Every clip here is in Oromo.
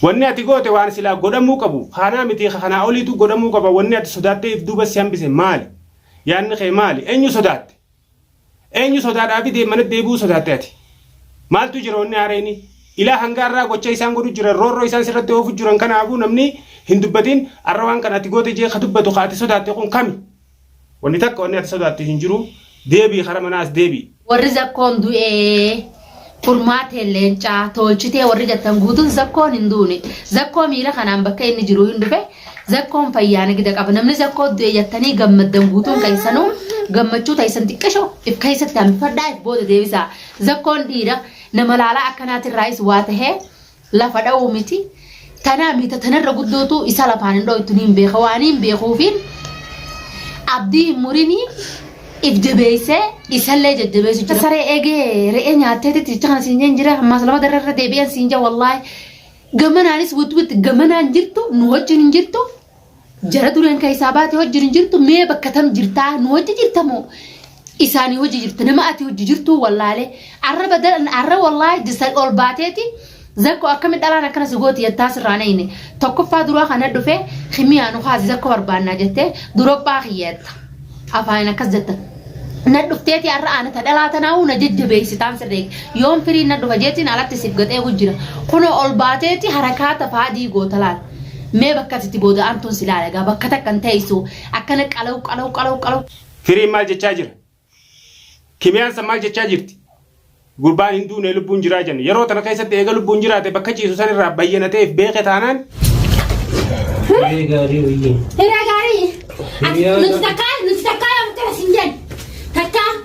Wanni ati goote waan silaa godhamuu qabu kanaa miti kanaa oliitu godhamuu qaba wanni ati sodaattee if duuba si hambise maali? Yaanni kee maali? Eenyu sodaatte? Eenyu sodaadhaafi dee manatti deebi'uu sodaatte ati? Maaltu jira wanni haarayni? Ilaa hanga har'aa gocha isaan godhu jiran roorroo isaan sirratti oofu jiran kanaafuu namni hin dubbatin har'a waan kana ati goote jee ka dubbatu ka ati sodaatte kun kami? Wanni takka wanni ati sodaattu hin jiru deebii kara manaa as deebii. Warri zakkoon du'ee furmaateen leencaa toolchitee warri jettan guutun zakkoon hin duune zakkoo miila kanaan bakka inni jiru hin dhufe zakkoon fayyaa nagida qaba namni zakkoo du'e jettanii gammaddan guutuun keessanuu gammachuu ta'isan xiqqisho if keessatti hambifadhaa if booda deebisaa zakkoon dhiira nama laalaa akkanaatirraayis waa tahee lafa dha'uu miti. Tanaa miita tanarra guddootu isa lafaan hin dhooytu niin beeka waan hin beekuufiin abdii hin murinii if jabeessee isallee jajjabeessu jira. Saree eegee re'ee nyaattee titti jecha kana siin jeen jira ammaas lama darra irra deebi'an siin jaa wallaahi. Gamanaanis witwit gamanaan jirtu nu wajjin hin jirtu. Jara dureen kan isaa baate hojji hin jirtu mee bakka tam jirtaa nu hojji jirta moo isaanii hojji jirta nama ati hojji jirtuu wallaalee arra badalan arra wallaahi jisa ol baateeti zakko akkami dhalaan akkana si gooti jettaa sirraa neyne tokkoffaa duraa kana dhufee kimiyaa nu kaasi zakko barbaannaa jettee durophaa kiyya jetta afaanin akkas jetta na dhufteeti arra ana ta dhalaa tanaa'u na jajjabeessitaan sirreeg yoon firii na dhufa jeetiin alatti siif gaxee gujjira kunoo ol baateeti harakaata faadii goota laal Mee bakka ati itti booda aantuun si laala egaa bakka takka hin teessu akkana qalaw qalaw qalaw qalaw. Firiin maal jechaa jira? Kimiyaan san maal jechaa jirti? Gurbaan hin duune lubbuun jiraa jenna. Yeroo tana keessatti eega lubbuun jiraate bakka ciisu san irraa bayyanateef beeke taanaan Hiree gaarii wayyiin. Hira gaarii. Ati Hiriyaa nuti gaarii. takkaa nuti takkaa yoo akkana sin jedhu. Takkaa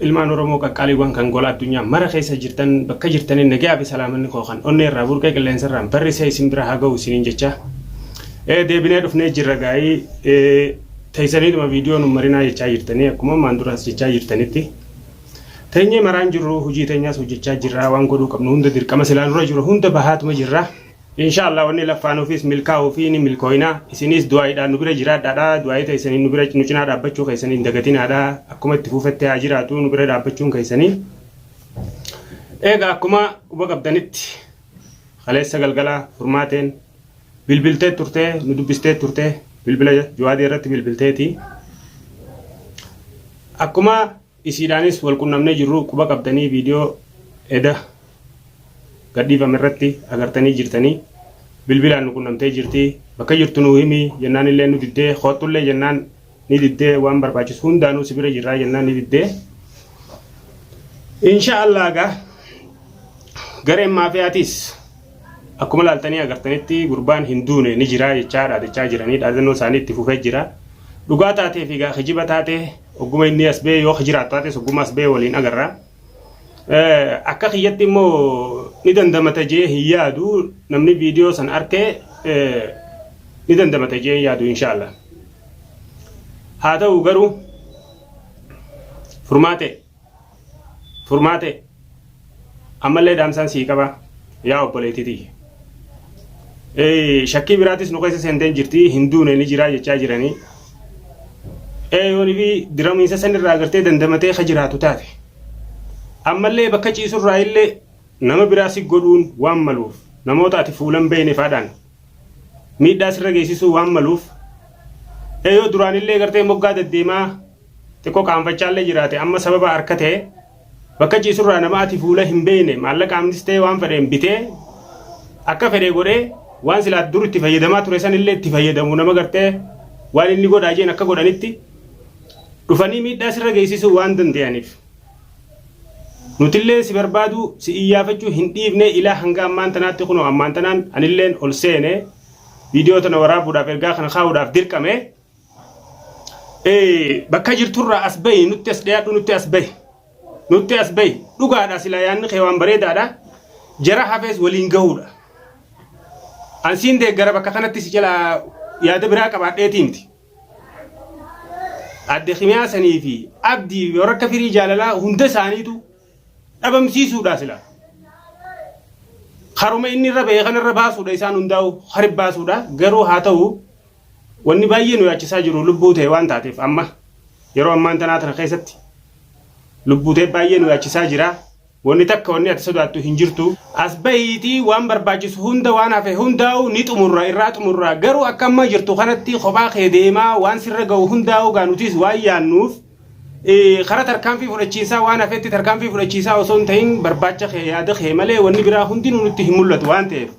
Ilmaan Oromoo qaqqaaliiwwan kan gola addunyaa mara keessa jirtan bakka jirtaniin nagaa fi salaamanni koo kan onnee irraa burqee qilleensa irraan barrisee isin bira haa gahu isiniin jechaa ee deebinee dhufnee jirra gaa'ii ee teessaniituma viidiyoo nun marinaa jechaa jirtanii akkuma ammaan duraas jechaa jirtanitti teenyee maraan jirru hojii teenyaas hojjechaa jirra waan godhuu qabnu hunda dirqama silaa nurra jiru hunda bahaatuma jirra. Insha Allah wanni laffaanuufis milkaa'uu fi ni milkooyna. Isiniis du'aa'iidhaan nu bira jiraadhaadha. Du'aa'ii teessaniin nu bira nu cinaa dhaabbachuu keessan hin dagatinaadha. Akkuma itti fuufetti haa jiraatu nu bira dhaabbachuun keessanii. Eega akkuma quba qabdanitti kaleessa galgala furmaateen bilbiltee turte nu dubbistee turte bilbila Juwaadee irratti bilbilteeti. Akkuma Isiidhaanis wal qunnamnee jirru quba qabdanii viidiyoo eda gadhiifame irratti agartanii jirtanii. Bilbilaan nu qunnamtee jirti. Bakka jirtu nuu himi jennaanillee nu diddee koottullee jennaan ni diddee waan barbaachisu hundaanuu si bira jirraa jennaan ni diddee. Insha Allah egaa gareen maafiyaatiis Akkuma ilaaltanii agartanitti gurbaan hin duune ni jira jechaa dhaadachaa jiranii dhaadannoo isaanii itti fufee jira. Dhugaa taatee fi egaa kijiba taatee ogguma inni as ba'ee yoo jiraatu taates ogguma as ba'ee waliin agarra. Akka kiyyatti immoo ni dandamata jee hin yaadu namni viidiyoo san arkee ni dandamata jee hin yaadu inshaallah. Haa ta'u garuu furmaatee. furmaate ammallee dhaamsaan sii qaba yaa obboleettii tiyya. Shakkii biraatis nu keessa seentee jirti hin duune ni jiraa jechaa jiranii. Eeyoonii fi diramiinsa sanirraa agartee dandamatee ka jiraatu taate. Ammallee bakka ciisurraa illee nama biraa si godhuun waan maluuf namoota ati fuulan beeyne faadhaan miidhaa sirra geessisuu waan maluuf eeyoo duraan illee gartee moggaa deddeemaa xiqqoo qaanfachaallee jiraate amma sababa harkatee bakka ciisurraa nama ati fuula hin beeyne maallaqaamnis ta'e waan fedheen bitee akka fedhee godhee waan silaa dur itti fayyadamaa ture sanillee itti fayyadamu nama gartee waan inni godhaa jeen akka godhanitti dhufanii miidhaa sirra geessisuu waan danda'aniif. Nutillee si barbaaduu si iyyaafachuu hin dhiifne ilaa hanga ammaan tanaatti kunoo ammaan tanaan anilleen ol seene viidiyoo tana waraabuudhaaf ergaa kana kaa'uudhaaf dirqame Eh, bakka jirturraa as bahi nutti as dhiyaadhu nutti as bahi nutti as bahi dhugaadha silaa yaanni kee waan bareedaadha jara hafees waliin gahuudha an siin deeggara bakka kanatti si jalaa yaada biraa qabaadheetii miti adde kimiyaa sanii fi abdii warra akka firii jaalalaa hunda isaaniitu dhabamsiisuudha sila. Haruma inni irra bahee kanarra baasuudha isaan hundaa'u harib baasuudha garuu haa ta'u wanni baay'ee nu yaachisaa jiru lubbuu ta'e waan taateef amma yeroo ammaan tanaa tana keessatti lubbuu ta'e baay'ee nu yaachisaa jira. Wanni takka wanni ati sodaattu hin jirtu. As bahiitii waan barbaachisu hunda waan hafe hundaa'u ni xumurra irraa xumurra garuu akka amma jirtu kanatti kophaa kee deemaa waan sirra ga'u hundaa'u gaa nutis waan yaannuuf Karaa tarkaanfii fudhachiisaa waan hafetti tarkaanfii fudhachiisaa osoo hin ta'in barbaacha kee yaada kee malee wanni biraa hundinuu nutti hin mul'atu waan ta'eef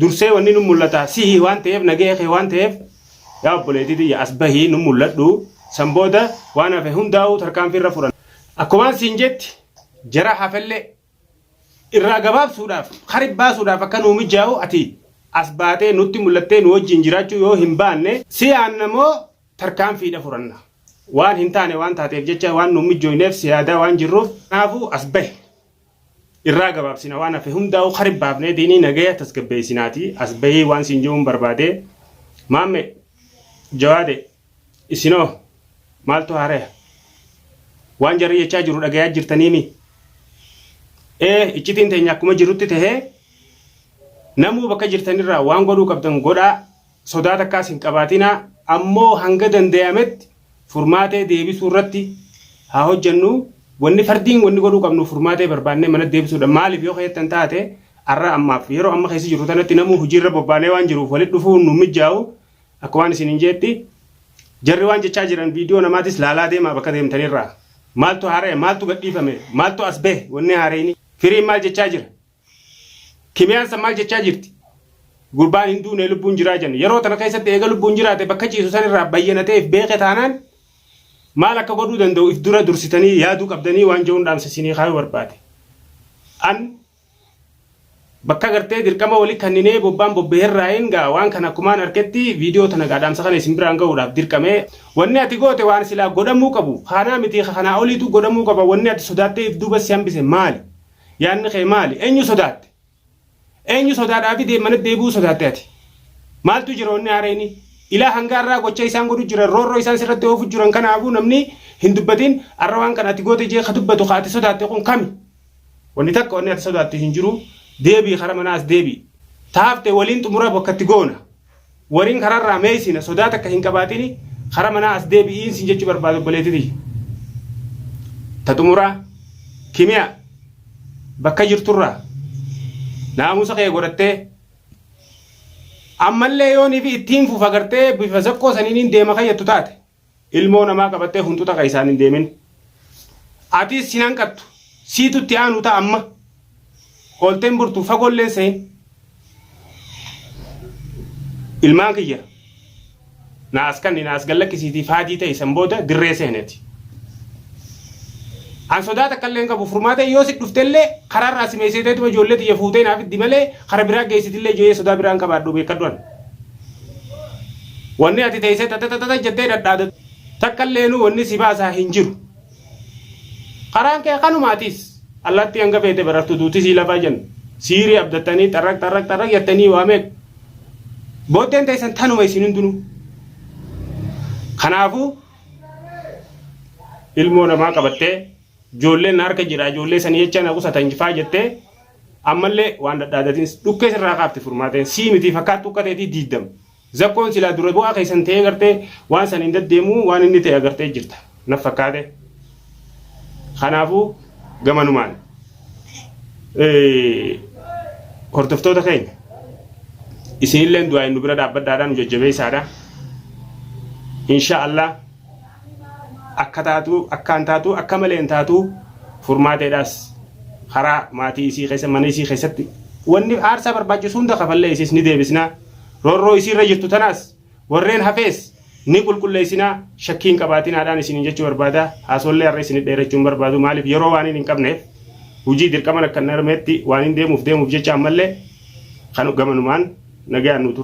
dursee wanni nu mul'ata sihi waan ta'eef nagahee kee waan ta'eef yaa obboleetii tiyya as bahii nu mul'adhu san booda waan hafe hundaa'uu tarkaanfii irra fudhan. Akkumaan siin jetti jara hafellee irraa gabaabsuudhaaf kari baasuudhaaf akka nuu mijaa'u ati as baatee nutti mul'attee nu wajjin jiraachuu yoo hin baanne si aanna moo tarkaanfiidha furanna. Waan hin taane waan taateef jecha waan nuun mijjooyneef si yaadaa waan jirruuf kanaafuu as bahi. Irraa gabaabsina waan hafe hundaa'uu kari baafnee diinii nagaya tasgabbeessinaati as bahii waan siin je'uun barbaade. Maamme, Jawaade, isinoo maaltu haaraya? Waan jarri jechaa jiru dhagayaa jirtaniimi? Ee iccitiin teenya akkuma jirutti tahee namuu bakka jirtanirraa waan godhuu qabdan godhaa Sodaa takkaas hin qabaatinaa, ammoo hanga dandayametti furmaatee deebisuu irratti haa hojjannuu, wanni fardiin wanni godhuu qabnu furmaatee barbaannee manatti deebisuudha, maaliif yoo ka jettan taate arra ammaaf yeroo amma keessa jirru tanatti namuu hujii irra bobbaanee waan jiruuf walitti dhufuun nuun mijjaawu, akkumaan isiniin jeetti jarri waan jechaa jiran viidiyoo namaatis laalaa deemaa bakka deemtanii irraa, maaltu haaraya, maaltu gadhiifame, maaltu as bahe wanni haareyni, firiin maal jechaa jira? Kimiyaan san maal jechaa jirti? Gurbaan hin duune lubbuun jiraa jenna. Yeroo tana keessatti eega lubbuun jiraate bakka ciisu san irraa bayyanatee if beeke taanaan maal akka godhuu danda'u if dura dursitanii yaaduu qabdanii waan je'uun dhaamsa isinii kaayuu barbaade. An bakka gartee dirqama wali kanninee bobbaan bobbee irraayin gaa waan kana akkumaan arketti viidiyoo tana gaa dhaamsa kana isin biraan ga'uudhaaf dirqame. Wanni ati goote waan silaa godhamuu qabu kaanaa miti ka kanaa oliitu godhamuu qaba wanni ati sodaattee if duuba si hambise maali? Yaanni kee maali? Eenyu sodaatte? Eenyu sodaadhaafi dee- mana deebi'uu sodaatte ati? Maaltu jira wanni haara inni? Ilaa hanga har'aa gocha isaan godhu jiran, roorroo isaan sirratti oofu jiran kanaafuu namni hin dubbatin har'a waan kana ati goote jee ka dubbatu ka ati sodaatte kun kami? Wanni takka wanni ati sodaattu hin jiru. Deebi'i kara manaa as deebi'i. Taafte waliin xumura bakka itti goona. Wariin karaa irraa mee isina sodaa takka hin qabaatini kara manaa as deebi'iin sin jechu barbaada obboleetti tiyya. Ta xumuraa kimiyaa bakka jirturraa naamusa kee godhattee ammallee yoon fi ittiin fufa gartee bifa zakkoo saniin deema kayyattu taate Ilmoo namaa qabattee hunxuxa keessaan hin deemin. Atiis sin hanqattu. Siitu itti aanu ta'a amma. Oolteen burtu fagoolleen seen. Ilmaan kiyya. Na as kanni na as gallakkisiitii faadii ta'e san booda dirree seeneti. An sodaa takka illee hin qabu furmaata yoo si dhufte illee karaa irraa si meesiteetuma ijoollee tiyya fuutee naaf iddi malee kara biraa geessitillee ijoollee sodaa biraa hin qabaadhu beekadhu an. Wanni ati teessee tatatata jettee dhadhaadatu takka illeenuu wanni si baasaa hin jiru. Karaan kee kanuma atis allaattii hanga feete barartu duuti sii lafaa jenna. Siirii abdattanii xarraq xarraq xarraq jettanii waa meeqa. Booddeen teessan tanuma isin hundinuu. Kanaafuu ilmoo namaa qabattee ijoolleen na harka jira ijoollee sanii jecha na qusatan faa jettee Ammallee waan dhadhaadatiin dhukkee sirraa kaafti furmaateen sii mitii fakkaattuu akka ta'etii diiddam. Zakkoon silaa dura bu'aa keessan ta'ee gartee waan san hin daddeemuu waan inni ta'e agartee jirta. Naf fakkaate. Kanaafuu gamanumaan hordoftoota keenya isinilleen du'aa hin nu bira dhaabbadhaadhaan nu jajjabeessaadha. Inshaa Allah. akka taatu akkaan taatu akka maleen taatu furmaateedhaas karaa maatii isii keessa mana isii keessatti wanni aarsaa barbaachisu hunda kafallee isiis ni deebisna roorroo isiirra jirtu tanaas warreen hafees ni qulqulleessinaa shakkiin qabaatinaadhaan isiniin jechuu barbaada haasoollee har'a isinit dheerachuun barbaadu maaliif yeroo waan hin qabneef hujii dirqaman akka narmeetti waan hin deemuuf deemuuf jecha ammallee kan gamanumaan nagaan nu tura.